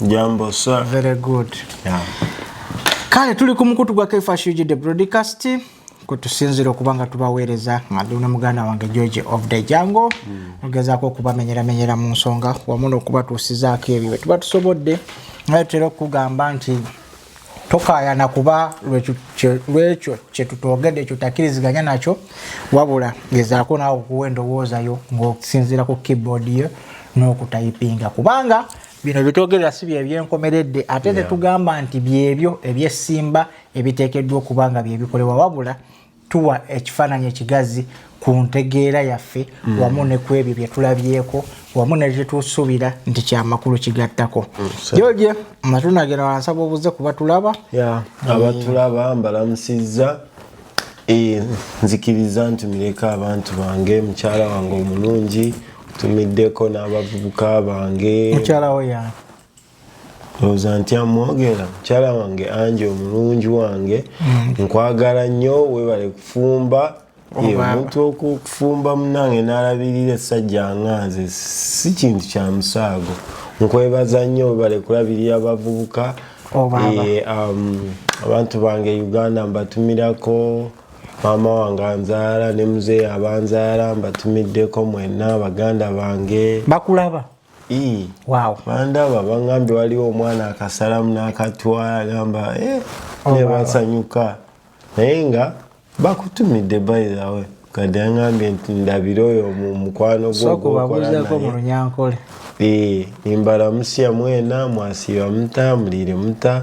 Jambo sir. Very good. Yeah. Kale tuli ku mukutu gwa Kaifa Shuji the broadcast kutusinzira okuba nga tubaweereza nga ndi ne muganda wange george of the jango mugezaako hmm. okubamenyeramenyera mu nsonga wamu n'okubatuusizaako ebyo bwe tuba tusobodde naye tutera okukugamba nti tokayana kuba lwekyo kyetutogedde ekyo takiriziganya nakyo wabula gezaako naawe okuwa endowoozayo ng'osinziira ku keyboard yo n'okutayipinga kubanga bino byetwogerera si byebyenkomeredde ate yeah. tetugamba nti byebyo ebyesimba ebiteekeddwa okuba nga byebikolebwa wabula tuwa ekifaananyi ekigazi ku ntegeera yaffe mm. wamu ne ku ebyo bye tulabyeko wamu ne bye tusuubira nti kyamakulu kigattako mm, joje matunda gena wansaba obuze kuba tulaba eh. abatulaba mbalamusizza eh, nzikiriza nti muleka abantu bange mukyala wange omulungi tumiddeko n'abavubuka bange mukyala wo yani oza ntya mwogera mukyala wange angi omulungi wange mm. nkwagala nnyo webale kufumba omuntu okufumba munange nalabirira essajja nga nze si kintu kya musaago nkwebaza nnyo webale kulabirira abavubuka oh, um, abantu bange uganda mbatumirako maama wange anzaala ne muzeeyi abanzaala mbatumiddeko mwenna baganda bange bakulaba wow. bandaba bangambye waliwo omwana akasalamu n'akatwala agamba eh, oh, nebasanyuka naye nga bakutumidde bayizawe kade angambye nti ndabire oyo mukwano gwokubabuzakomulunyankole eh, nimbalamusia mwena mwasiba muta mulire muta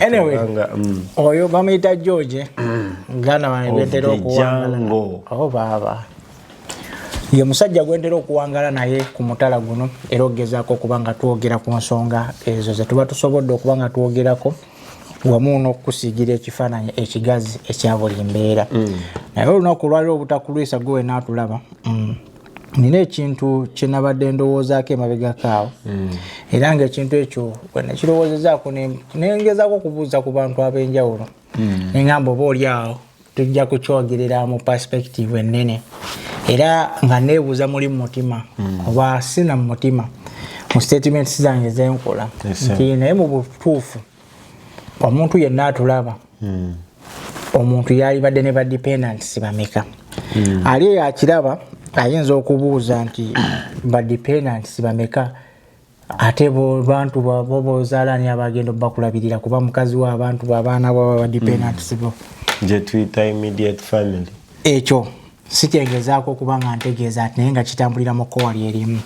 anyway mm. oyo bamuyita george muganda mm. wange gwentera okuwangalango oh, baaba ye musajja gwentera okuwangala naye ku mutala guno era okugezaako okuba nga twogera ku nsonga ezo zetuba tusobodde okuba nga twogerako wamu n'okukusiigira ekifaananyi ekigazi ekya buli mbeera mm. naye olunaku olwaliro obutakulwisa gwe wenaatulaba nina ekintu kyenabadde ndowoozaako emabegako awo hmm. era nga ekintu ekyo bwenakirowoozezaako nengezako okubuuza ku bantu ab'enjawulo hmm. nengamba oba oli awo tujja kukyogerera mu perspective ennene era nga neebuuza muli mu mutima hmm. oba sina mu mutima mu statements zange zenkola nti naye mu butuufu mm. omuntu yenna atulaba hmm. omuntu yalibadde ne badependants bameka hmm. ali eyo akiraba ayinza okubuuza nti badependants bameka ate bantu babo bozalani abagenda obakulabirira kuba mukazi wa abantu babaana baba badependants bo gyetuyita immediate family ekyo sikyengezaako okuba nga ntegeeza ati naye nga kitambulira mu kkowa lye limu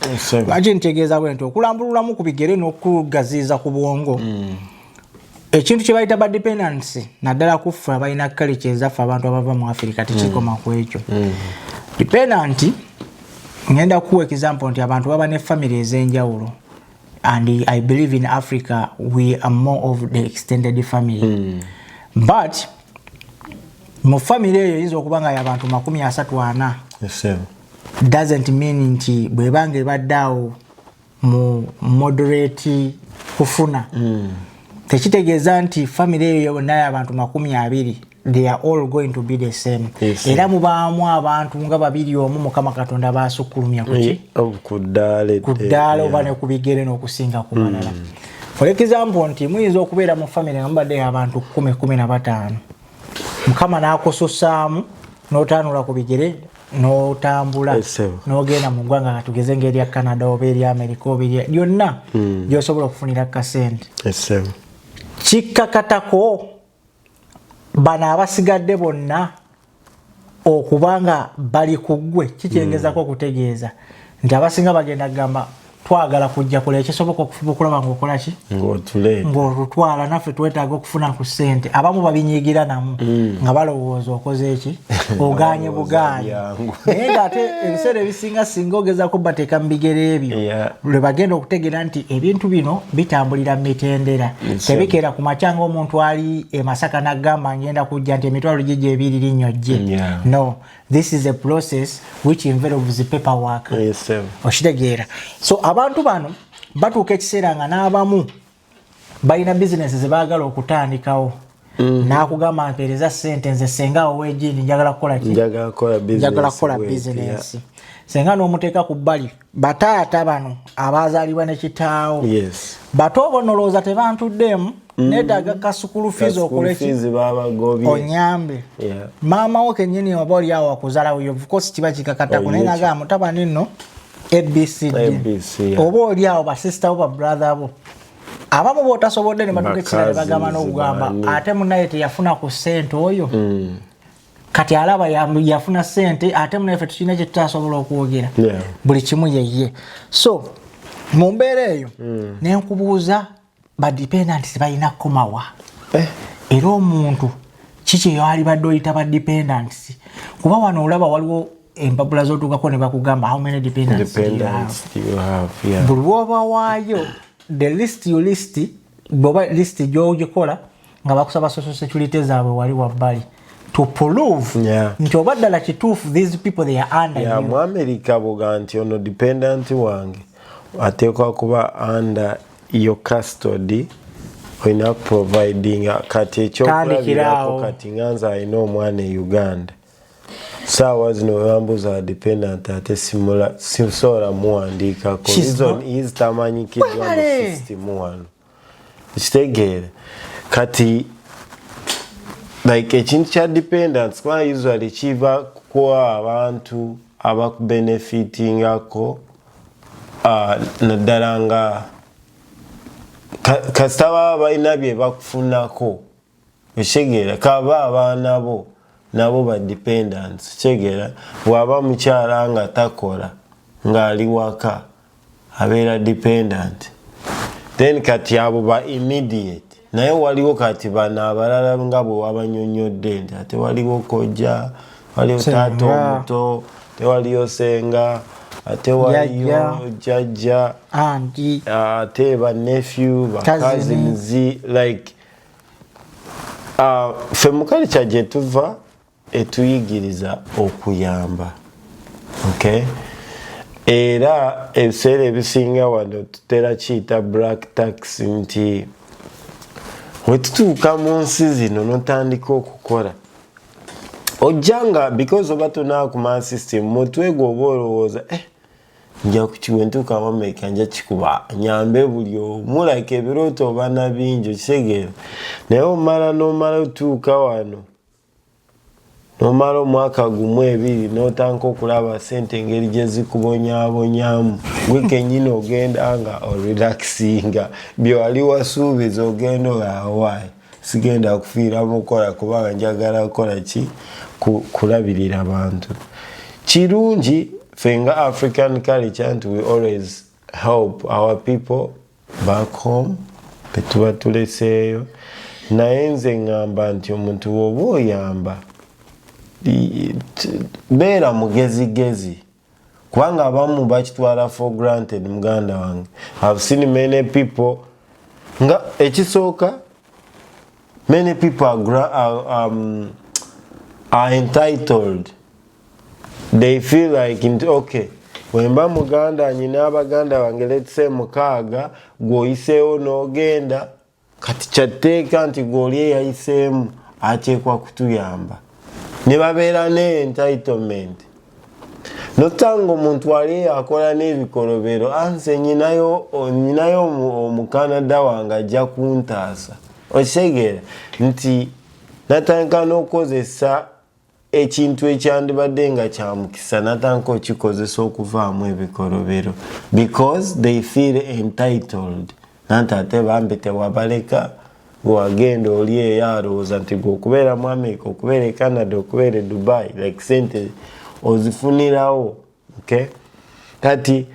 lwaki ntegeeza bwe nti okulambululamu ku bigere n'okugaziiza ku bwongo mm. ekintu kye bayita badependency naddala kuffe abalina kkale kyezaffe abantu abava mu afirika tekikoma mm. ku ekyo mm. dependanti ngenda kukuwa example nti abantu baba ne famiry ez'enjawulo and i believe in africa we are more of the extended family but mu famire eyo eyinza okuba nga yabantu makumi asatu ana doesn't mean nti bwebanga ebadde awo mu moderate kufuna mm. tekitegeeza nti famire eyo yonna yabantu makumi abiri they are all going to be the same era mubaamu abantu nga babiri omu mukama katonda basukkulumya kuki eh, oh, ku ddaala oba ne ku bigere n'okusinga ku balala mm. for example nti muyinza okubeera mu famire nga mubadde abantu kumi kumi na bataano mukama n'akususaamu n'otaanula ku bigere n'otambula n'ogenda mu ggwanga nga tugeze ngaerya canada oba erya amerika oba erya lyonna hmm. gyosobola okufunira kasente kikkakatako bano abasigadde bonna okuba nga bali ku ggwe kikyengezako hmm. okutegeeza nti abasinga bagenda kugamba twagala kujja kola ekisoboka okufuba okulaba ngaokolaki ngaolutwala naffe twetaaga okufuna ku ssente abamu babinyigira namu hmm. nga balowooza okoze eki oganye buganye naye ngaate ebiseera ebisinga singa ogezako bateeka mu bigero ebyo lwe bagenda okutegeera nti ebintu bino bitambulira mu mitendera tebikeera ku makya nga omuntu ali emasaka nagamba ngenda kujja nti emitwalo gye gyebiri linnyo jje no this is a process which involves paper work okitegeera so abantu bano batuuka ekiseera nga n'abamu balina bizinesi zebaagala okutandikawo mm. nakugamba mpeereza sente nze senga owejini njagala kukolanjagala kukola bizinesi senga nomuteeka ku bbali bataata bano abazaalibwa nekitaawo bato obo nolowooza tebantuddeemu mm. netaga kasukulu fizi okulekonyambe maama wo kenyini oba oliawo wakuzalawo yovukosi kiba kikakatako naye nagaa mutabani nno abcd oba oli awo basisita bo babrother bo abamu botasobodde ne batuka ekisira ne bagamba n'okugamba ate munaye teyafuna ku ssente oyo mm. kati alaba yafuna ssente ate munaye fe tukirina kye tutasobola okwogera buli kimu yeye so mu mbeera eyo mm. ne nkubuuza badependants balina kukomawa eh. era omuntu kiki eyalibadde oyita badependants kuba wano olaba waliwo empapula zotuukako ne bakugamba how many dependants buli woba waayo the list you list bwoba list gyogikola nga bakusaba social security zaabwe wali wabbali to prove yeah. nti oba ddala kituufu these people they are under yeah, mu america boga nti ono dependent wange ateekwa kuba under yo custody olina providing kati ekyokulabirako kati nganza alina omwana e uganda saawa zino webambuza dependent ate sisobola muwandiikako reason is tamanyikiddwa mu system wano ekitegeere kati like ekintu kya dependence kuba usually kiva kuwa abantu abakubenefitingako ah, naddala nga kasita baba balina bye bakufunako ekitegeera kaba abaana bo nabo ba dependence ekitegeera bwaba mukyala nga takola ng'ali waka abeera dependent then kati abo ba immediate naye waliwo kati bano abalala nga bwe wabanyonyodde nti ate waliwo kojja waliwo taata omuto tewaliyo senga ate waliyo jajja ate banefyu bakazinzi like uh, fe mukali kyajetuva etuyigiriza okuyamba okay? era ebiseera ebisinga wano tutera kiyita black tax nti wetutuuka mu nsi zino notandika okukola ojja nga because oba tonaakuma system mutwe gwe oba olowooza eh, nja kukiwa entuuka wameka nja kikuba nyambe buli omu like ebirooto obana bingi okitegeera naye omala nomala otuuka wano nomala omwaka gumu ebiri notanka okulaba sente engeri gyezikubonyabonyamu gwe kenyini ogenda nga orelaxinga byewali wasuubiza ogenda oawayi sigenda kufiira mukukola kubanga njagala kukola ki kulabirira abantu kirungi fenga african culture nti we always help our people back home betuba tuleseeyo naye nze ngamba nti omuntu woba oyamba beera mugezigezi kubanga abamu bakitwala for granted muganda wange have seen many people nga ekisooka many people are, are, um, are entitled they feel like nti okay wemba muganda nyina abaganda bange letse mukaaga gwoyiseewo n'ogenda kati kyatteeka nti gwoli eyayiseemu ateekwa kutuyamba ne babeera ne entitlement notanga omuntu ali akola n'ebikolobero anse ah, nyinayo nyinayo omukanada wange ajja kuntaasa okitegeera nti natandika n'okukozesa ekintu ekyandibadde nga kyamukisa natanka okikozesa okuvaamu ebikolobero because they feel entitled nanti ate bambi tewabaleka wagenda oli eyo alowooza nti gwe okubeera mu amerika okubeera e canada okubeera e dubai like sente ozifunirawo okay? kati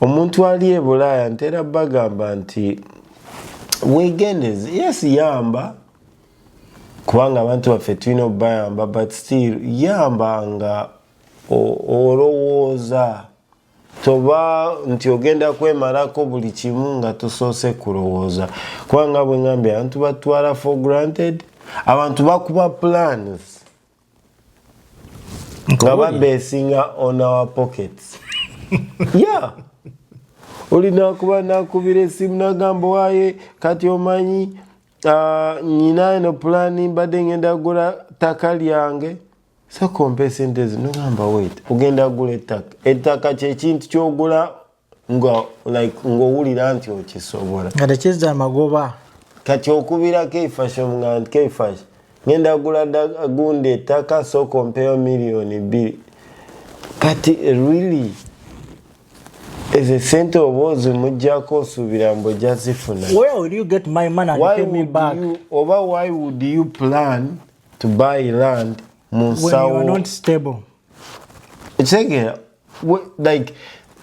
omuntu ali ebulaaya ntera bagamba nti wegendeze yes yamba kubanga abantu baffe tulina obayamba but still yamba nga olowooza toba nti ogenda kwemalako buli kimu nga tusoose kulowooza kubanga bwengambye abantu batwala for granted abantu bakuba plans nga babesinga on our pockets yeah olina kuba nakubira esimu nagamba waye kati omanyi uh, nyina eno pulani mbadde ngenda gula ttaka lyange sekompa esente zi nogamba wet ogenda gula ettaka ettaka kyekintu kyogula nga like ng'owulira nti okisobola nga tekizza amagoba kati okubira keifash nga nti keifash ngenda gula gunda ettaka sooka ompeyo miliyoni bbiri kati really ezo sente oba ozimujjako osuubira mbu ojja zifuna oba why would you plan to buy land mu nsawo ekitegeera What, like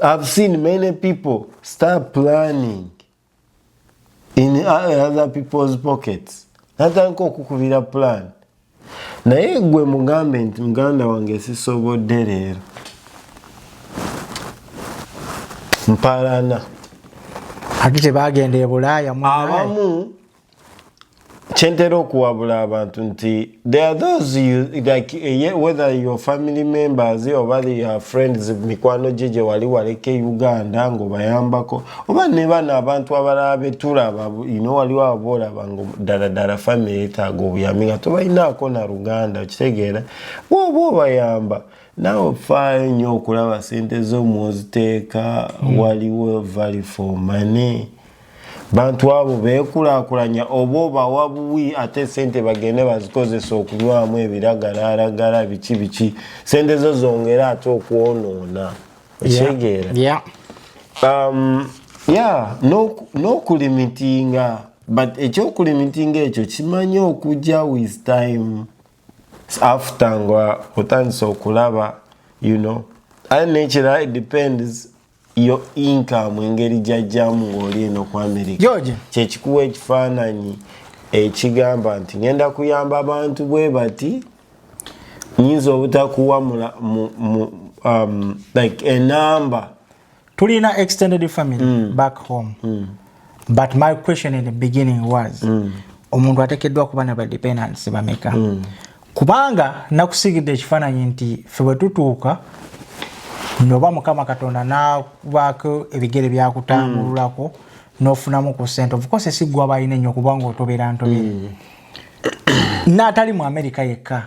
I've seen many people start planning in other people's pockets natandika okukubira plan naye gwe mugambe nti muganda wange sisobodde leero mpalana ati tebagenda ebulaaya abamu kyentera okuwabula abantu nti there are those you, like, eh, whether your family members oba your friends mikwano gye gye wali waleka e uganda ngaobayambako oba ne bano abantu abalala betulaba ino waliwo aba olaba nga ddala ddala famiry etaaga obuyambi nga tobalinaako na luganda okitegeera bwoba obayamba naawe ofaayo nnyo okulaba sente zo mwoziteeka mm. waliwo vali for money bantu abo beekulakulanya oba obawa buwi ate sente bagende bazikozesa okunywamu ebiragalaragala biki biki sente zo zongere ate okwonoona ekyegeera yeah. yeah. um, yeah, n'okulimitinga no, no but ekyokulimitinga ekyo kimanyi okujja with time after nga otandise okulaba you know and nekirala it depends yo income engeri gyajjamu ng'oli eno ku amerika kyekikuwa ekifaananyi ekigamba nti ngenda kuyamba abantu bwe bati nyinza obutakuwa um, like enamba tulina extended family mm. back home mm. but my question in the beginning was mm. omuntu atekeddwa kuba na badependants bameka mm. kubanga nakusigidde ekifaananyi nti fe bwe tutuuka noba mukama katonda nakubaako ebigere byakutambululako mm. nofunamu ku sente ofcourse siggwa balina ennyo kubanga otobera ntobere mm. naatali mu amerika yekka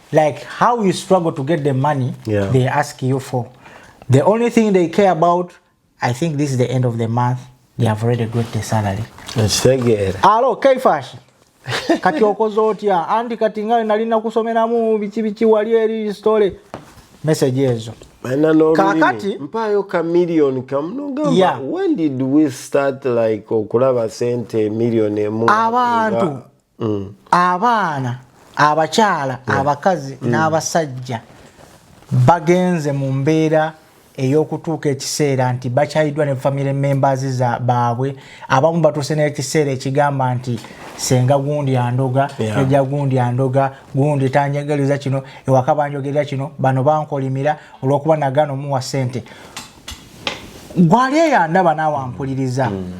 like how you struggle to get the money yeah. they ask you for the only thing they care about i think this is the end of the month they have already got the salary alo kaifashi kati okoze otya anti kati nga nalina kusomeramu biki biki wali eri story message ezo kakati mpayo ka million kamnogamba yeah. when did we start like okulaba sente million emu abantu mm. abaana abakyala mm. abakazi mm. n'abasajja bagenze mu mbeera ey'okutuuka ekiseera nti bakyayiddwa ne family members za baabwe abamu batuuse n'ekiseera ekigamba nti senga gundi andoga eja yeah. gundi andoga gundi tanjagaliza kino ewaka banjogerera kino bano bankolimira olwokuba nagano muwa sente gwali eyandaba naawe ampuliriza mm.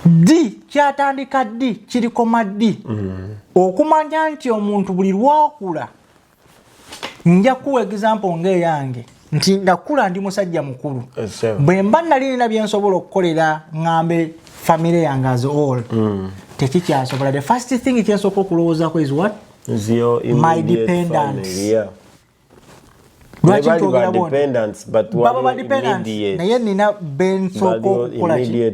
ddi kyatandika ddi kirikoma ddi mm. okumanya nti omuntu buli lwakula nja kuwa egizampo ngaeyange nti ndakula ndi musajja mukulu bwe mba nali nina byensobola okukolera ŋambe famire yange as all mm. tekikyasobola the first thing kyensooka okulowoozako is what my dependence lwaki ntwogera bwonbaba badependence naye nina bensooka okukolaki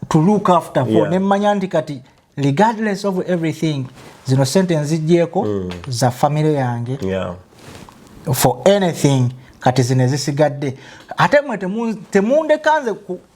to look after for yeah. nemmanya nti kati regardless of everything zino sente nzijjeeko mm. za famire yange yeah. for anything kati zino ezisigadde ate mwe temundekanze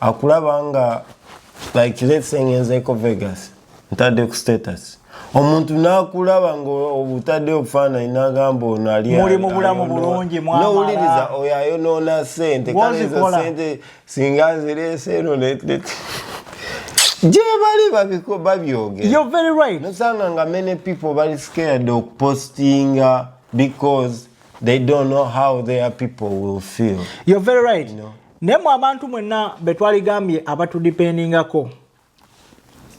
akulaba nga like let's say ngenzeko vegas ntadde ku status omuntu nakulaba nga obutadde obufaananyi nagamba ono alimuli mu bulamu bulungi nowuliriza oyo ayonoona sente kalezo sente singa nzireese eno gyebali babiko babyogenosanga nga many people bali scared okupostinga because they don't know how their people will feel you're very right you know? naye mu abantu mwenna be twaligambye abatudipendingako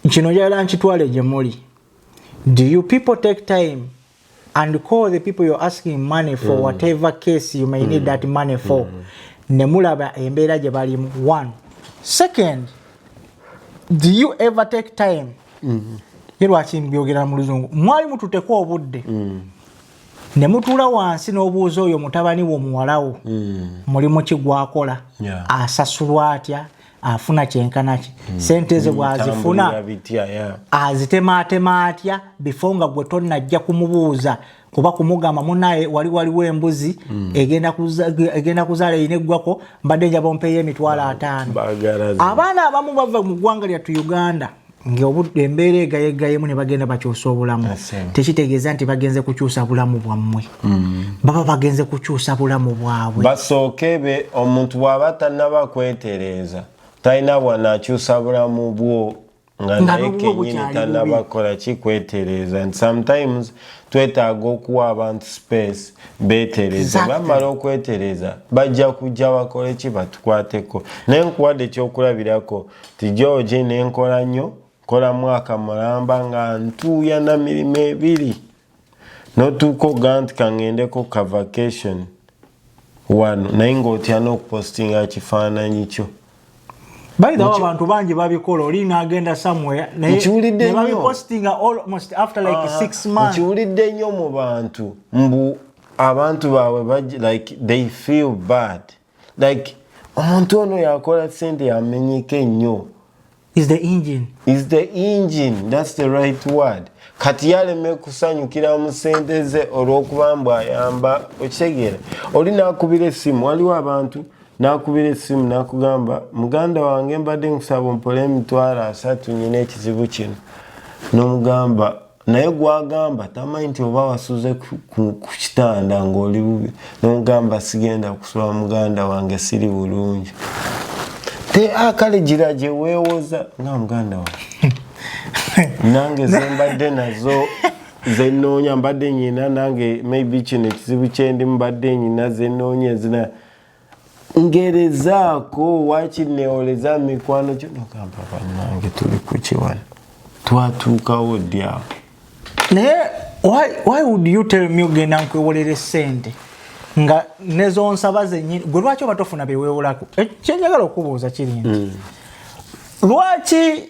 kino njagala nkitwale gye muli do you people take time and call the people you're asking money for mm. whatever case you may mm. need that money for mm. ne mulaba embeera gye balimu one second do you ever take time mm. ye lwaki mbyogera mu luzungu mwali mututekwa obudde mm. ne mutuula wansi n'obuuza oyo mutabani wo muwalawo hmm. mulimu ki gwakola asasulwa atya afuna kyenkanaki hmm. sente ze hmm, bwazifuna azitemaatema atya bifo nga gwe tonnajja kumubuuza kuba kumugamba munaye wali waliwo embuzi egenda kuzaala erina eggwako mbadde njaba ompeeyo emitwalo ataano abaana abamu bava mu ggwanga lyattu uganda embeera egayegayemu ne bagenda bakyusa obulamu tekitegeeza nti bagenze kukyusa bulamu bwammwe mm. baba bagenze kukyusa bulamu bwabwe basooke be omuntu bw'aba tannaba kwetereeza talina bwanaakyusa bulamu bwo nga naye kenyini tannaba kukola ki kwetereeza nti sometimes twetaaga okuwa abantu space betereze bamala okwetereza bajja kujja bakole ki batukwateko naye nkuwadde ekyokulabirako ti george nenkola nnyo nkola mwaka mulamba nga ntuuya na mirimu ebiri notuuka okuga nti kangendeko ka vacation wano naye ngaotya n'okupostinga kifaananyi kyo By the way, abantu bangi babikola oli n'agenda somewhere naye ne babipostinga almost after like uh, six months. Nkiwulidde nnyo mu bantu mbu abantu baabwe like they feel bad. like omuntu ono yakola sente yamenyeka ennyo is the engine is the engine that's the right word kati yaleme kusanyukira mu sente ze olw'okuba mbu ayamba okitegeera oli nakubira essimu waliwo abantu nakubira essimu nakugamba muganda wange mbadde nkusaba ompola emitwalo asatu nyina ekizibu kino nomugamba naye gwagamba tamanyi nti oba wasuze ku kitanda ngaoli bubi nomugamba sigenda kusula muganda wange siri bulungi te akale ah, gira gyewewoza nga muganda wange nange zembadde nazo zenoonya mbadde nyina nange maybe kino ekizibu kyendi mubadde nyina zenoonya ezina ngerezaako waki newoleza mikwano kinogamba banange tuli kukiwano twatuukawo ddi awo naye why would you tell me ogenda nkwewolere sente nga nezonsaba zenyini gwe lwaki oba tofuna bewewolako eh, kyenjagala okubuuza kiri nti mm. lwaki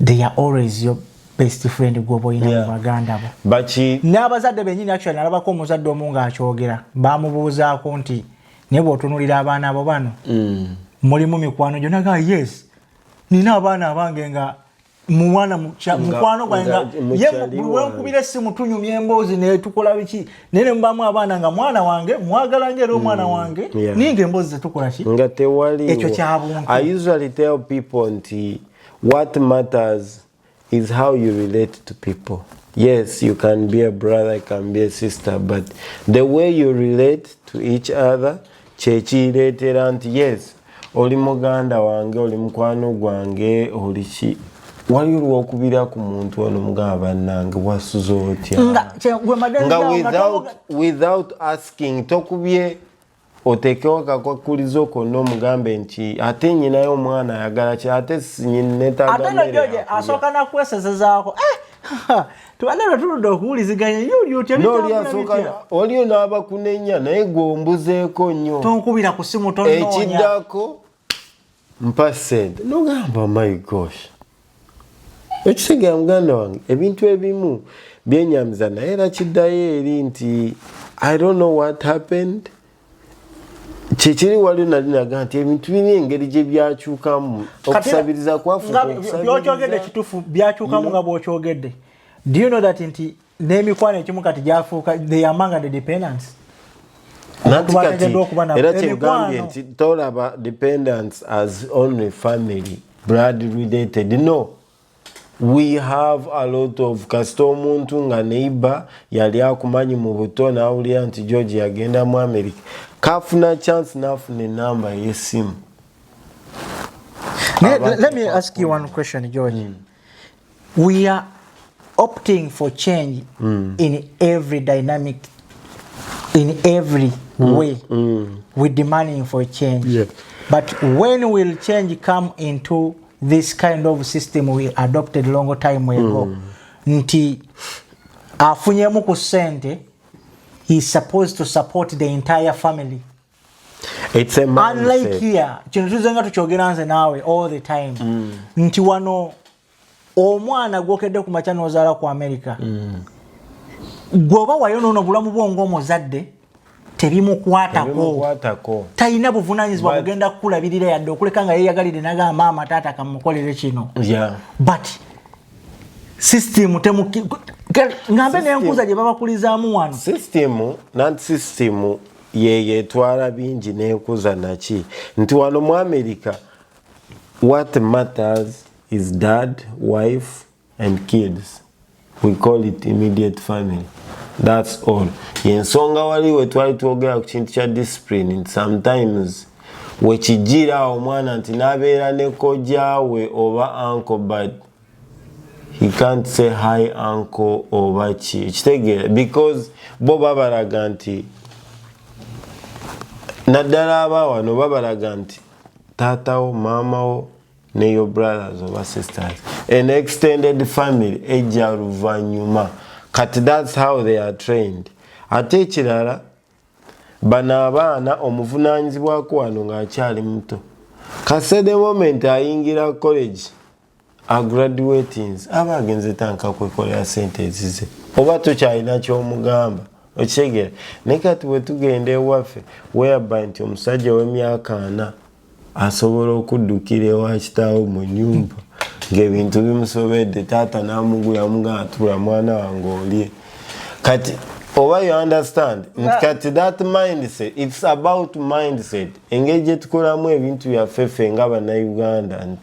they are always your best friend gwoba olina yeah. baganda bo baki n'abazadde benyini actually nalabako omuzadde omu ng'akyogera bamubuuzaako nti naye bw'otunulira abaana bo bano mm. mulimu mikwano gyo naga yes nina abaana abange nga mumwana mukwano gwange nga ye buli wenkubira essimu tunyumya emboozi netukola biki naye nemubamu abaana nga mwana wange mwagala nga era omwana mm, wange naye nga emboozi zetukola ki nga tewali ekyo kyabuntu i usually tell people nti what matters is how you relate to people yes you can be a brother you can be a sister but the way you relate to each other kyekireetera nti yes oli muganda wange oli mukwano gwange oli ki wali olwokubira ku muntu ono mugamba bannange wasuza otya nga without, without asking tokubye otekewo akakwakulizo konna omugambe nti ate nyinayo omwana ayagala ki ate sinyinetagaasooka nakuwesezezaako eh, tubadde lwe tuludde okuwuliziganya yuli otya waliyo n'abakunenya naye gwe ombuzeeko nnyo tonkubira ku simu tonoonya ekiddako mpa sente nogamba my gosh ekisegera muganda wange ebintu ebimu byenyamiza naye era kiddayo eri nti i don't know what happened kyekiri waliyo nali naga nti ebintu biri engeri gye byakyukamu okusabiriza kwafubyokyogeddde kitufu byakyukamu nga bwokyogedde do you know that nti n'emikwano ekimu kati gyafuuka they are among the dependence era kyegambye nti tolaba dependence as only family blood related no we have a lot of kasita omuntu nga neighbor yali akumanyi mu buto nawulira nti george yagenda mu america kafuna chance nafuna enamba yesimu let me ask you one question george mm. we are opting for change mm. in every dynamic in every mm. way mm. we demanding for change yeah. but when will change come into this kind of system we adopted long time ago mm. nti afunyemu ku sente he is supposed to support the entire family It's a man unlike here kino tuzenga tukyogera nze naawe all the time mm. nti wano omwana gwokedde ku makya nozaala ku america mm. gwoba wayo nono bulamu bwo ngaomuzadde tebimukwatako talina buvunanyizibwa kugenda kukulabirira yadde okuleka nga yeyagalire naga maama taata kamukolere kino but system ngambe nenkuza gyebabakulizaamu wano system nanti system yeyetwala bingi nenkuza naki nti wano mu america what matters is dad wife and kids we call it immediate family that's all yensonga wali wetwali twogera ku kintu kya discipline and sometimes wekijira omwana nti nabeera ne kojawe oba uncle but he can't say hi uncle oba ki ekitegeera because bo babalaga nti naddala abawano babalaga nti taatawo maamawo ne your brothers oba sisters an extended family ejja luvannyuma kati thats how they are trained ate ekirala bano abaana omuvunaanyizibwako wano ng'akyali muto kasede moment ayingira college agraduatings aba agenze tanka kwekolera sente ezize oba tukyalina kyomugamba okitegera naye kati bwetugenda ewaffe weyaba nti omusajja wemyaka ana asobola okuddukira ewa kitaawo mu nyumba ngaebintu bimusobedde taata namugula mugatula mwana wange olye kati oba you understand ah. kati that mindset its about mindset engeri gyetukolamu ebintu byaffe ffe nga banauganda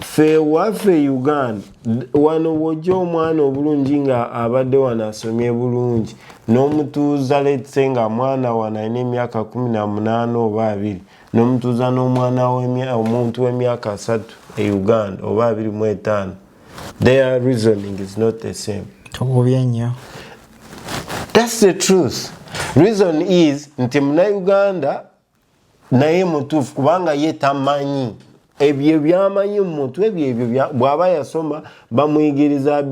fe waffe uganda wano wojja omwana obulungi nga abadde wano asomye bulungi n'omutuuza letse nga mwana wano alina emyaka 18 oba abiri n'omutuuza n'omwana omuntu w'emyaka asatu e uganda oba abiri mu etaano their reasoning is not the same tugubye nnyo that's the truth reason is nti munauganda naye mutuufu kubanga ye tamanyi ebyo byamanyi mu mutwe byebyo bw'aba yasoma bamuyigiriza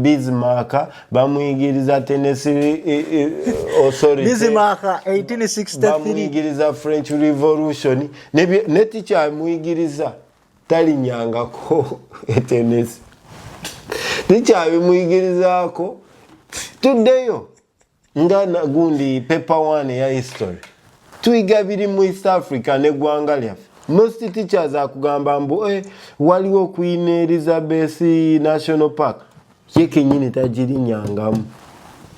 bizimaka bamuyigiriza tenesibamuyigiriza e, e, french revolution netikyamuyigiriza talinyangako etenesi tikyabimuyigirizaako tuddeyo nga nagundi paper one ya history tuyiga biri mu east africa ne gwanga lyaffe most teachers akugamba mbu eh, waliwo queen elizabeth national park ye kenyini tagirinyangamu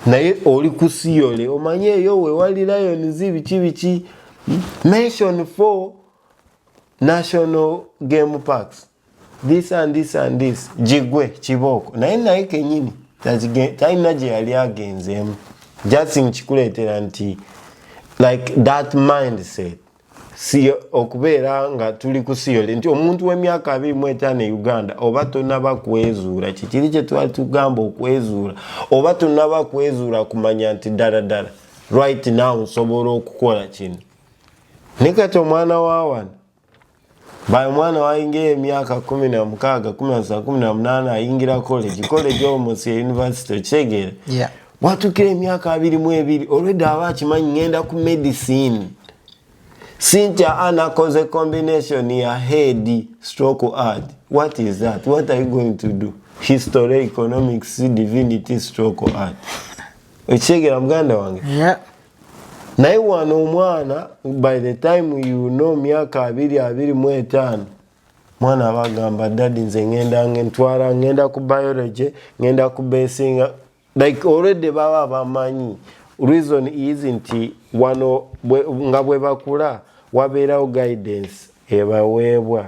naye oli ku siyole omanye eyo wewali lions biki biki mention for national game parks this and this and this jigwe kibooko naye naye kenyini talina gye yali agenzeemu just nkikuleetera nti like that mindset si okubeera nga tuli ku siyole nti omuntu w'emyaka abiri mu etaano e uganda oba tonaba kwezuula kikiri kye twali tugamba okwezuula oba tonaba kwezuula kumanya nti ddala ddala right now nsobola okukola kino ne kati omwana wa wano Bayo mwana wainga emyaka kumi na mukaaga kumi na saba kumi na munaana ayingira college college omusi university okitegeera yeah. watukira emyaka abiri mu ebiri olwedde aba akimanyi ngenda ku medicine Cynthia Anna cause a combination ya head stroke art. What is that? What are you going to do? History, economics, divinity, stroke art. Uchegera mganda wange. Yeah. naye wano omwana by the time you know myaka abiri abiri mu etaano mwana aba agamba dadi nze ngenda ntwala ngenda ku biology ngenda ku besinga like already baba bamanyi reason is nti wano nga bwebakula wabeerawo guidance ebaweebwa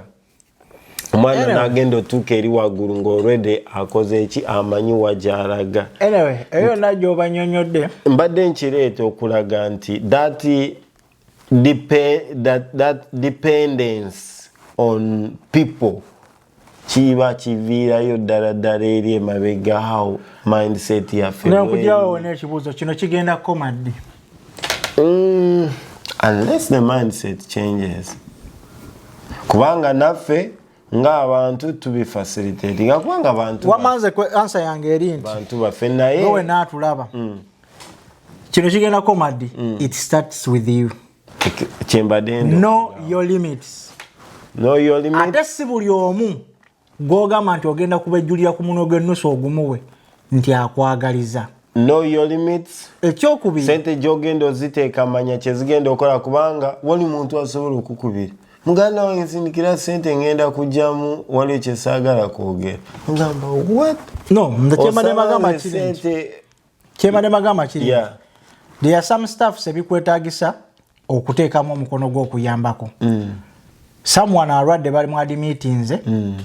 omwana nagenda otuuka eri waggulu ng'olwedde akoze eki amanyi wagyalaga anyway eyo yonna gyobanyonyodde mbadde nkireeta okulaga nti that, that, that dependence on people kiba kiviirayo ddala ddala eri emabega how mindset yaffe nakujawo nekibuuzo kino kigenda koma ddi mm, unless the mindset changes kubanga naffe ng'abantu tubifacilitatinga kubanga bantu wamanze ansa yange eri nti bantu baffe naye nowe naatulaba mm. kino kigenda komadi mm. it starts with you kyembadde no your limits no your limits ate si buli omu gwogamba nti ogenda kubejjulira ku muno gwennusu ogumuwe nti akwagaliza ekyokubiri sente gyogenda oziteeka manya kyezigenda okola kubanga wali muntu asobola okukubira muganda wange nsindikira sente ngenda kujjamu waliwo kyesaagala kwogera mugamba no nze kyemba nebagamba kiri nti kyebadde bagamba kiri yeah. there are some staffs ebikwetagisa okuteekamu omukono gw'okuyambako mm. someone alwadde bali mwadimitinze mm.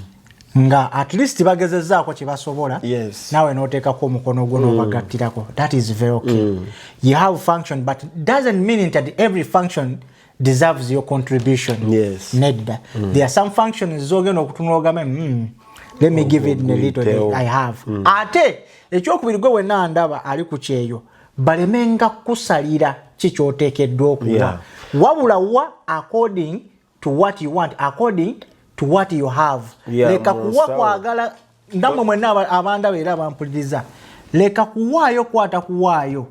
nga at least bagezezaako kyebasobola yes. nawe noteekako omukono gwo mm. nobagattirako that is very okay mm. you have function but doesn't mean that every function deserves your contribution yes. nedda mm. there are some functions zogenda okutunula ogame mm. let me give it a little bit i have mm. ate ekyokubiri gwe wenna ndaba ali ku kyeyo balemenga kukusalira ki kyoteekeddwa okuwa yeah. wabula wa according to what you want according to what you have leka yeah, kuwa kwagala ndamwe mwenna abandaba era abampuliriza leka kuwaayo kwata kuwaayo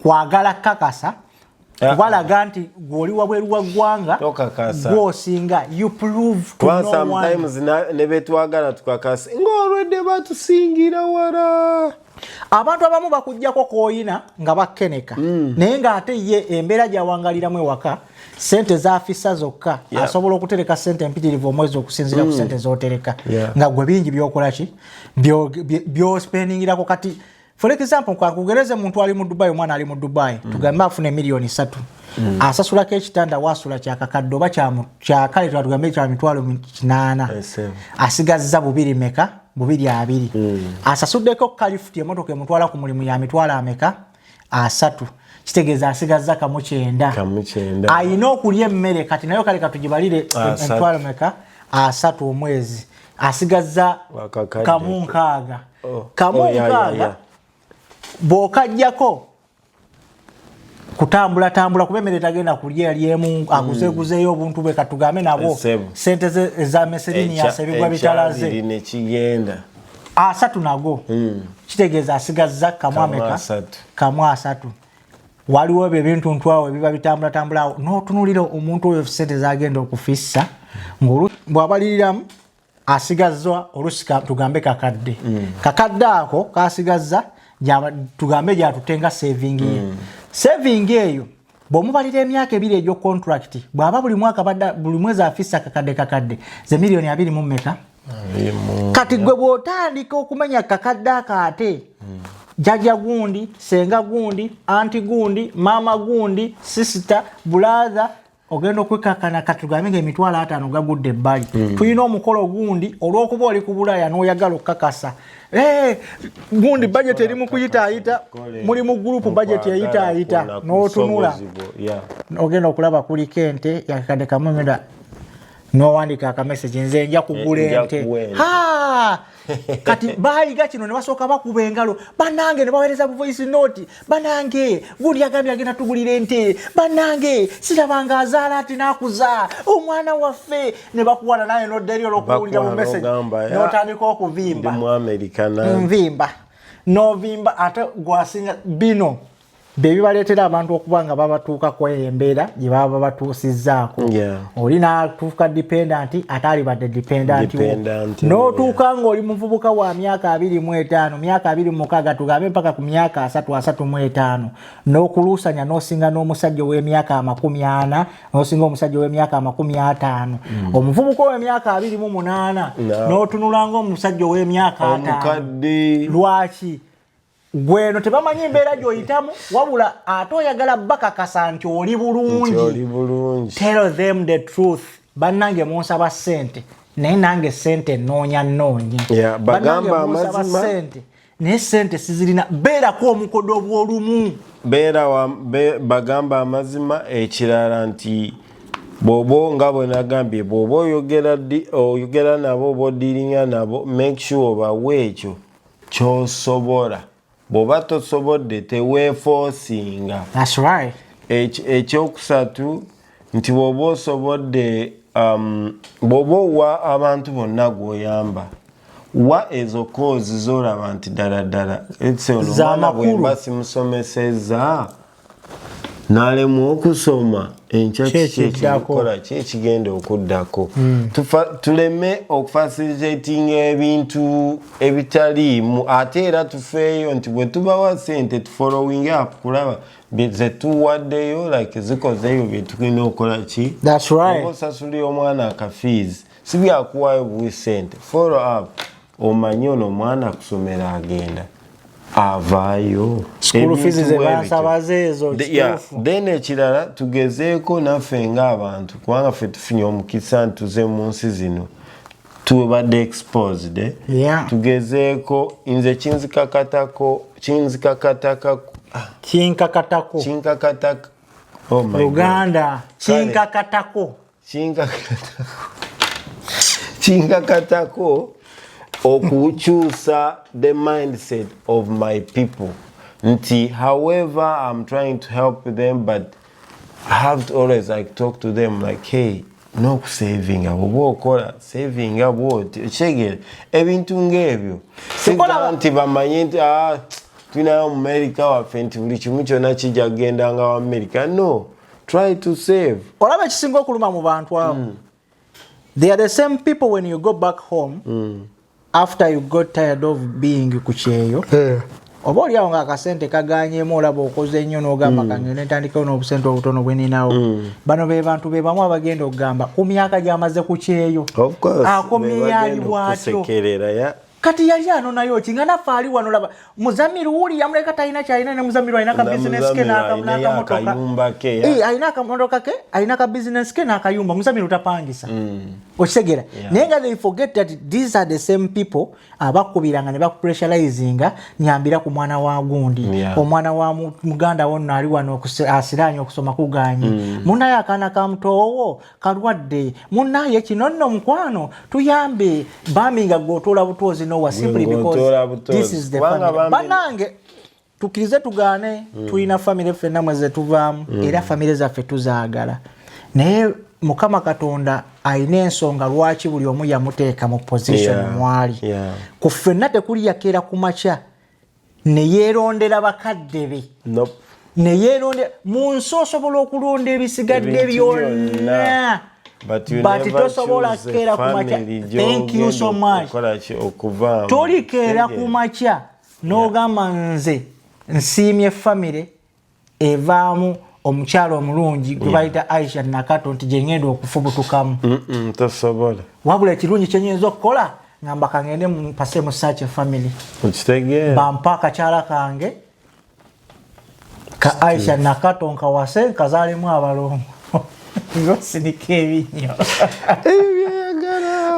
kwagala kakasa kubalaga ah, ah. nti gwoli wabweru wa ggwanga gwosinga nebetwagala tukakasa ngaolwedde batusingira wala abantu abamu bakujjako koyina nga bakeneka mm. naye ngaate ye embeera gyawangaliramu ewaka sente zafisa zokka yeah. asobola okutereka sente empitirivu omwezi okusinzira mm. ku sente zotereka yeah. nga gwe bingi byokolaki byospendingirako kati for example kakugereze muntu ali mu dubai omwana ali mu dubai mm. tugambe afuna emiliyoni esatu mm. asasulako ekitanda wasula kyakakadde oba kyakale tugambe kyamitwalo kinana asigaziza bubiri meka bubiri abiri mm. asasuddeko kalifuti emotoka emutwala ku mulimu ya mitwalo ameka asatu kitegeeza asigazza kamu kyenda alina okulya emmere kati nayo kale katugibalire emitwalo meka asatu omwezi asigazza kamu nkaaga oh. kamu oh, nkaaga bwokajjako kutambula tambula kuba emmere tagenda kulya lyemu aguzeguzeyo mm. obuntu bwe katugambe nabo sente ze eza meserini yasebigwa bitalaze nekigenda asatu nago mm. kitegeeza asigazza kamu ameka kamu asatu waliwo ebyo ebintu ntwawo ebiba bitambula tambula awo notunulira omuntu oyo sente zagenda okufissa ngolu bwabaliriramu asigazza olusika tugambe kakadde mm. kakadde ako kasigazza tugambe gyatute nga savingi ye mm. savingi eyo bwomubalira emyaka ebiri egyo contract bwaba buli mwaka buli mwezi afisa kakadde kakadde ze miliyoni abiri mu meka kati gwe bwotandika okumenya kakadde ako ate mm. jaja gundi senga gundi anti gundi maama gundi sisita bulatha ogenda okwekakana katugambe nga emitwalo ataano gagudde ebbali hmm. tulina omukolo gundi olwokuba oli ku bulaaya noyagala okukakasa eh, gundi bajeti eri mukuyitaayita muli mu gurupu bajeti eyitaayita notunula ogenda okulaba kuliko ente yakakadde kamumira nowandika akamesegi nze nja kugula ente kati baaliga kino ne basooka bakuba engalo banange ne baweereza buvoisi noti banange gundi yagambye agenda tugulira ente banange sirabanga azaala ati nakuza omwana waffe ne bakuwana naye nodderi olwokuwulira mu message notandika okuvimba nvimba novimba ate gwasinga bino bye bibaleetera abantu okuba nga babatuuka ku eyo embeera gye baba babatuusizzaako oli n'atuuka dipendanti ate alibadde dipendanti wo n'otuuka ng'oli muvubuka wa myaka abiri mu etaano myaka abiri mu mukaaga tugambe mpaka ku myaka asatu asatu mu etaano n'okuluusanya n'osinga n'omusajja ow'emyaka amakumi ana n'osinga omusajja ow'emyaka amakumi ataano mm. omuvubuka ow'emyaka abiri mu munaana n'otunula ng'omusajja ow'emyaka ataano lwaki gweno tebamanyi embeera gyoyitamu wabula ate oyagala bakakasa nti oli bulungi tell them the truth bannange munsaba sente naye nange sente noonya noonya sente naye sente sizirina beerako omukodo obwolumu beera bagamba amazima ekirala nti bwobo nga bwenagambye bwoba oyogera nabo oba odiringa nabo make sure obawe ekyo kyosobola bwoba tosobodde teweefoosinga right. ekyokusatu nti bwoba osobodde um, bwoba owa abantu bonna gwoyamba wa ezo koozi zolaba nti ddala ddala etseonomwana bwemba simusomeseza nalemwa okusoma enkya kikikola ki ekigenda okuddako hmm. tuleme okufasilizatinga ebintu ebitaliimu ate era tufeeyo nti bwe tubawa sente tufolowing up kulaba zetuwaddeyo like zikozeyo byetulina okukola ki osasulira omwana akafiizi sibyakuwayo buwi sente follow up omanyi ono omwana kusomero agenda avaayo then ekirala tugezeeko naffe ngaabantu kubanga ffe tufunye omukisa ntuze mu nsi zino tubadde exposed eh? yeah. tugezeeko nze kinzikakatako kinzikakataka ah. kinkakatako kinkakataka oh kinkakatako kinkakatako okukyusa the mindset of my people nti however i'm trying to help them but i have to always like talk to them like hey n'okusavinga bwoba okola savinga bwoti okitegere ebintu ng'ebyo siga nti bamanye nti ah, tulinayo mumerica waffe nti buli kimu kyona kijja kugenda nga wamerica no try to save olaba ekisinga okuluma mu bantu abo mm. they are the same people when you go back home mm. after you got tired of being ku kyeyo yeah. oba oliawo nga akasente kaganyemu olaba okoze ennyo nogamba mm. kange netandikawo n'obusente obutono bweninawo mm. bano be bantu be bamu abagenda okugamba ku myaka gyamaze ku kyeyo akomyeyaaliwaatyo kati yali anonayo ki nga naffe ali wano laba muzamiru wuli yamuleka talina kyalina ne muzamiru alina ka bizinesi ke alina akamotoka ke alina ka bizinesi ke n'akayumba muzamiru tapangisa mm. okitegeera naye nga they forget that these are the same people abakubiranga ne bakupressurizinga nyambira ku mwana wa gundi omwana wa muganda wonno ali wano asiraanye okusoma kuganye mm. munaye akaana ka mutoowo kalwadde munaye kino nno mukwano tuyambe bambi nga gwotoola butoozi nowa simply because this is the family banange tukirize tugaane mm. tulina famire ffe namwe zetuvaamu mm. era famire zaffe tuzaagala naye mukama katonda alina ensonga lwaki buli omu yamuteeka mu position yeah. mwali yeah. ku ffenna tekuli yakeera ku makya ne yeerondera bakadde be nope. ne yeerondera mu nsi osobola okulonda ebisigadde byonna but tosobola keera kumakya thank you so much tolikeera kumakya n'ogamba nze nsiimye famire evaamu omukyalo omulungi gwebayita yeah. aisha nakato nti gyengenda okufubutukamu mm -mm, tasobola wabula ekirungi kyenyinza okukola ngamba kangende mpase mu search family okitegeera bampa akakyala kange ka aisha nakato nkawase nkazalimu abalongo ngosinika ebinyo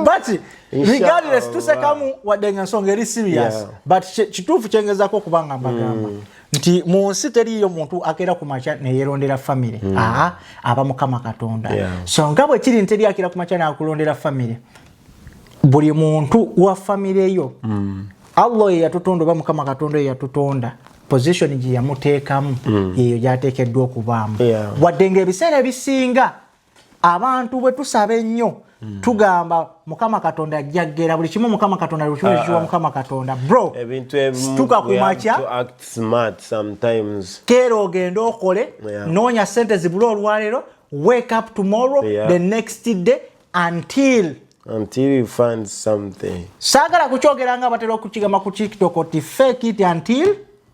but regardless tusekamu wadde nga nsonga eri serious yeah. but kituufu kyengezako okubanga mbagamba mm. nti mu nsi teriiyo muntu akeera ku makya neyerondera famire mm. aa aba mukama katonda yeah. so nga bwe kiri nteri akeera ku makya nakulondera famire buli muntu wa famire yo mm. allah eyeyatutonda oba mukama katonda eyeyatutonda position gye yamuteekamu mm. yeyo gyateekeddwa okubaamu yeah. wadde ngaebiseera ebisinga abantu bwe tusaba ennyo hmm. tugamba mukama katonda ajja kgera buli kimu mukama katonda lukiwulikiwa ah, ah. mukama katonda bro tuka kumakya keera ogende okole noonya sente zibula olwaleero wake up tomorrow yeah. the next day until until you find something saagala kukyogeranga batera okukigamba ku tiktok ti fake it until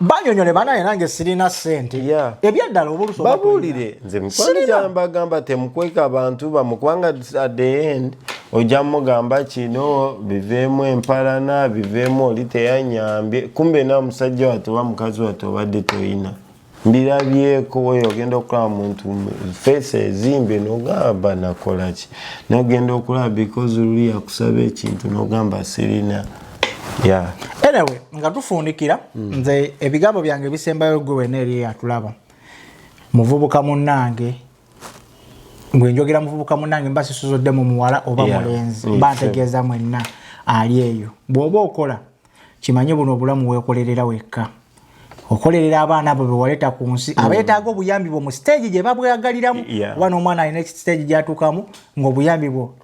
banyonyole banaye nange sirina sente yeah. ebyaddala obulusobabuulire nze mikwano gyambagamba temukweka abantu bamu kubanga at the end ojja mugamba kino biveemu empalana biveemu oli teyanyambye kumbe na musajja watu oba mukazi watu obadde toyina mbirabyeko weyo ogenda okulaba muntu feesi ezimbe nogamba nakolaki nogenda okulaba because luli yakusaba ekintu nogamba sirina yeah. anyway nga tufundikira mm. nze ebigambo byange bisembayo gwe wena eri eyatulaba muvubuka munange gwe njogera muvubuka munange mba sisuzoddemu muwala oba yeah. mulenzi mm, mba ntegeeza mwenna ali eyo bw'oba okola kimanye buno obulamu weekolerera wekka okolerera abaana abo bewaleeta ku nsi mm. abeetaaga obuyambi bwo mu siteegi gye babwagaliramu oba n'omwana alina siteegi gyatuukamu ng'obuyambi bwo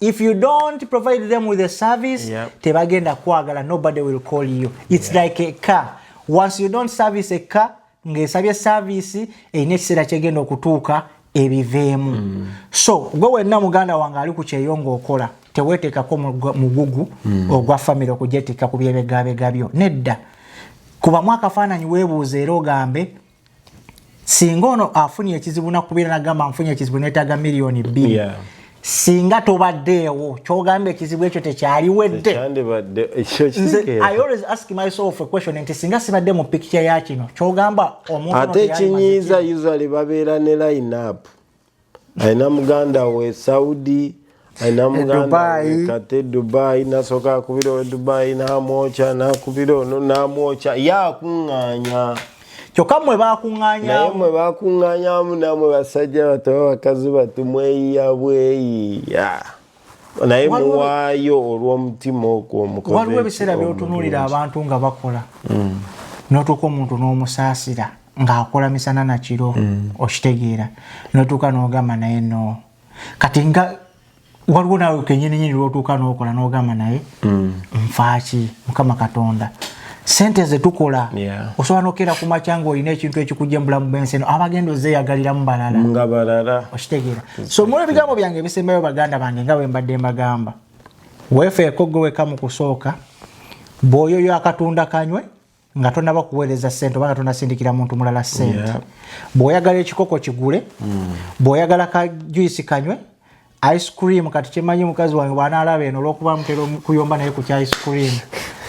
if you don't provide them with a service yep. tebagenda kwagala nobody will call you it's yep. like a car once you don't service a car ngaesabye service erina ekiseera kyegenda okutuuka ebiveemu mm. so gwe wenna muganda wange ali ku kyeyo ngaokola teweteekako mugugu mm. ogwa famiry okujetikka ku byebegabega byo nedda kubamu akafaananyi weebuuza era ogambe singa ono afunye ekizibu nakubeera nagamba nfunye ekizibu netaga miliyoni bbiri yeah. singa tobaddeewo kyogamba ekizibu ekyo tekyaliwedde nti singa sibadde mu pikica ya kino kyogamba omuntu ate ekinyiiza usal babeera ne line up alina muganda we saudi alina e muganda we kate dubai nasooka akubira owe dubai namwokya nakubira ono namwokya ye akuŋŋaanya kyokka mwe bakuŋŋaanyamu mwe bakuŋŋaanyamu namwe basajja batoba bakazi batu mweyiya bweyiya naye muwaayo olw'omutima ogwo waliwo ebiseera byotunulira abantu nga bakola mm. notuuka omuntu n'omusaasira ng'akola misana na kiro mm. okitegeera notuuka n'ogamba naye no kati nga waliwo naawe kenyininyini lwotuuka n'okola n'ogamba naye mm. nfaaki mukama katonda sente zetukola yeah. osobola nokeera ku makya nga olina ekintu ekikujja mubulamu bwensi eno abagenda ozeyagaliramu balala nga balala okitegeera so muli ebigambo byange ebisembayo baganda bange nga bwembadde mbagamba wefeeko gwe weka mu kusooka bwoyo yo akatunda kanywe nga tonaba kuweereza sente oba nga tonasindikira muntu mulala sente yeah. bwoyagala ekikoko kigule mm. bwoyagala kajuisi kanywe ice cream kati kyemanyi mukazi wange bwanalaba eno olwokuba mutera kuyomba naye kukya ice cream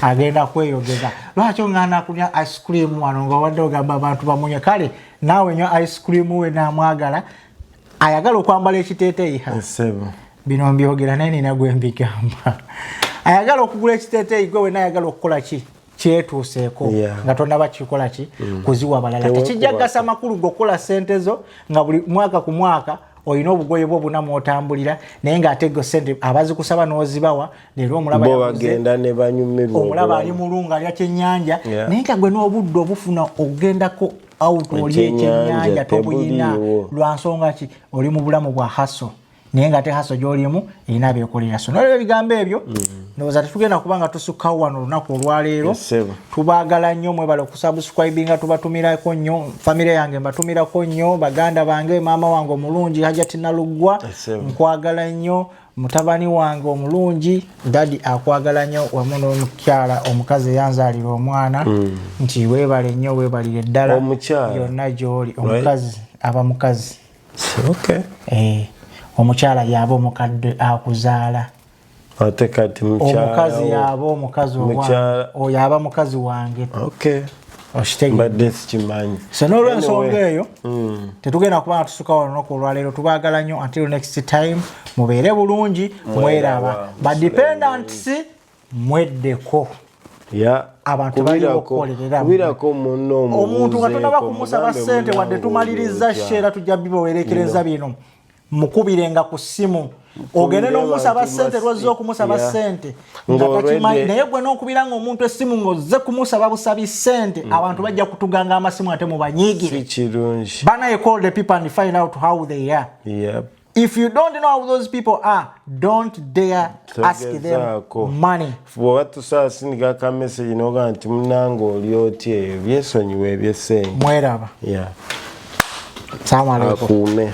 agenda kweyogeza lwaki ongana kunya ice cream wano nga wadde ogamba abantu bamunye kale naawe nyo ice cream we namwagala ayagala okwambala ekiteteyi ha bino mbyogera naye nina gwembigamba ayagala okugula ekiteteyi gwe wena ayagala okukola ki kyetuuseeko yeah. nga tonaba kikola ki mm. kuziwa balala tekijja kugasa makulu gokukola sente zo nga buli mwaka ku mwaka olina obugoye bwo buna mwotambulira naye nga ate sente abazikusaba nozibawa leero omulabaomulaba ali mulunga alya kyenyanja yeah. naye nga gwe n'obudde obufuna okugendako out oli ekyenyanja tobuyina lwansonga ki oli mu bulamu bwa haso naye nga ate haso gyolimu erina bekolera so nolwebyo ebigambo ebyo mm. ndowooza tetugenda kuba nga tusukkawo wano olunaku olwaleero tubagala nnyo mwebale okusubscribinga tubatumirako nnyo famire yange mbatumirako nnyo baganda bange maama wange omulungi hajati naluggwa nkwagala nnyo mutabani wange omulungi dadi akwagala nnyo wamu n'omukyala omukazi eyanzaalira omwana mm. nti webale nnyo webalire ddala yonna gyoli omukazi aba mukazi okay. eh, omukyala yaba omukadde akuzaala ate kati omukazi yaba omukazi oyo aba mukazi wange okay. mbadde sikimanyi so nolwensonga eyo mm. tetugenda kuba natusuka olunaku olwaleero tubagala nnyo until next time mubeere bulungi mweraba badependants mweddeko abantu balina okukolereraomuntu nga tonaba kumusaba sente wadde tumaliriza sheera tujja bibawerekereza bino mukubirenga ku ssimu ogende nomusaba sente lwazze okumusaba sente ngatakimanyi naye gwe nokubira nga omuntu esimu ngaozze kumusaba busabi sente mm. abantu bajja kutuganga amasimu ate mubanyigire banaye call the people and find out how they are yep. if you don't know how those people are don't dare ask them money bwoba tusasindika ka message noga nti munange oli oti eyo byesonyiwa ebyesente mweraba yeah. salamu alaikum akuume